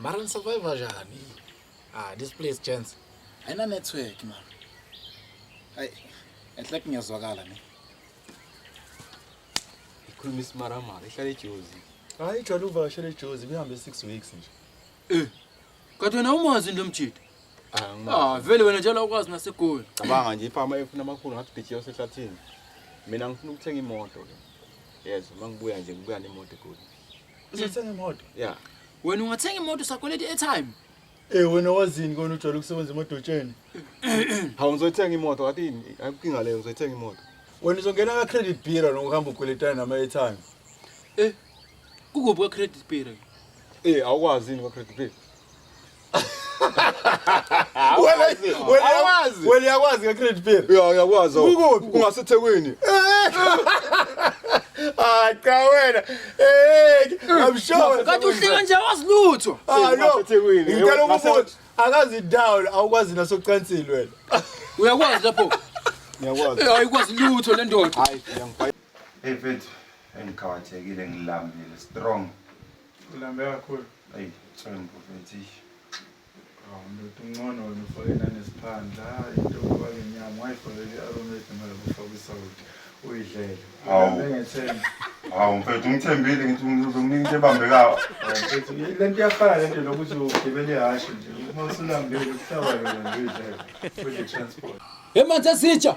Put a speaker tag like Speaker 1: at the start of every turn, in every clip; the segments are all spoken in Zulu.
Speaker 1: mara ni survive njani ah this place chance ayina network
Speaker 2: man ay enhle kungezwakala ne
Speaker 3: ikhuluma isimaramara ihlale ejozi hayi jwale
Speaker 4: uvakashele ejozi kuhambe 6 weeks nje eh Kanti wena
Speaker 5: umazi lo mjita? Ah, vele wena njalo ukwazi nasegoli. Cabanga nje ifama
Speaker 3: efuna amakhulu ngathi bhithi yosehlathini. Mina ngifuna ukuthenga imoto ke. Yes, uma ngibuya nje ngibuya nemoto egoli. Uzothenga
Speaker 4: imoto? Yeah. Wena
Speaker 3: ungathenga
Speaker 5: imoto sakweleti airtime. Eh wena
Speaker 4: wazini kona ujwayele ukusebenza emodotsheni? Hawu
Speaker 3: ngizothenga imoto kanti yini? Ayinkinga leyo ngizothenga imoto. Wena uzongena ka
Speaker 4: credit bureau nokuhamba ukweletana nama airtime. Eh,
Speaker 5: Kukuphi kwa credit bureau? Eh awukwazi
Speaker 3: yini kwa credit bureau? Awukwazi.
Speaker 4: Awukwazi. Wena uyakwazi ka credit bureau? Yeah, uyakwazi. Kukuphi?
Speaker 3: Kungasethekwini.
Speaker 4: Ah cha wena. Eh I'm sure. Kanti uhleka nje awazi
Speaker 5: lutho. Ah no. Kungasethekwini.
Speaker 4: Ngicela ukubuza. Akazi down awukwazi nasocansini wena.
Speaker 5: Uyakwazi lapho.
Speaker 3: Ngiyakwazi. Eh, Ayikwazi lutho
Speaker 5: le ndoda. Hayi, ngiyangibhayisa.
Speaker 3: Hey mfethu,
Speaker 6: Engikhawathekile ngilambile strong. Ulambe
Speaker 4: kakhulu. Hey, thembu
Speaker 6: mfethu. Hawu
Speaker 4: ndoda uncono wena ufake nanesiphandla. Hayi into yokuba ke nyama wayifakele i-aromat noma lapho ufaka isawoti. Uyidlele. Hawu. Ulambe ngethemba. Hawu mfethu
Speaker 6: ngithembile ngithi ngizomnika into ebambekayo. Hayi, mfethu, Le
Speaker 4: nto iyafana le nto lokuthi ugibele ihhashi nje. Uma usulambile kuhlaba yona nje uyidlele. Udle transport. Emanzi esitsha.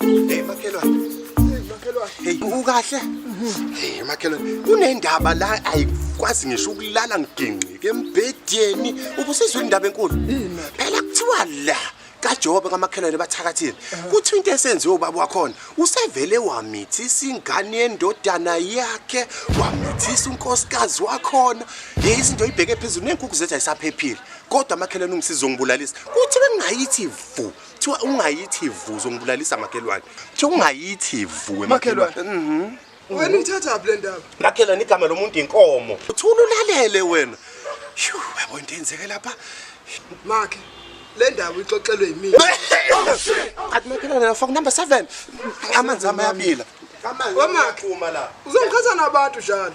Speaker 7: Hey makhelwane. Hey makhelwane. Hey ukahle? Hey makhelwane. Kunendaba la ayikwazi ngisho ukulala ngigingqike embhedeni. Ubusizwe indaba enkulu. Phela kuthiwa la kaJobe kamakhelwane bathakathile. Kuthi into esenziwe ubaba wakhona usevele wamithisa ingane yendodana yakhe, wamithisa unkosikazi wakhona. Hey izinto ibheke phezulu nenkukhu zethu ayisaphephile. Kodwa amakhelwane ungisiza ungibulalisa. Kuthi bengayithi vu Kuthiwa ungayithi vu zongibulalisa makhelwane. Kuthiwa ungayithi vu emakhelwane. Mhm. Wena ithatha
Speaker 8: phi le ndaba? Makhelwane igama lomuntu
Speaker 7: inkomo. Uthula ulalele wena. Shu, yabo into enzeke lapha. Makhe
Speaker 8: le ndaba ixoxelwe yimina.
Speaker 7: Athi makhelwane la faka number 7. Amanzi ami ayabila. Amanzi Wamakhe.
Speaker 8: uma la. Uzongikhatha nabantu njalo.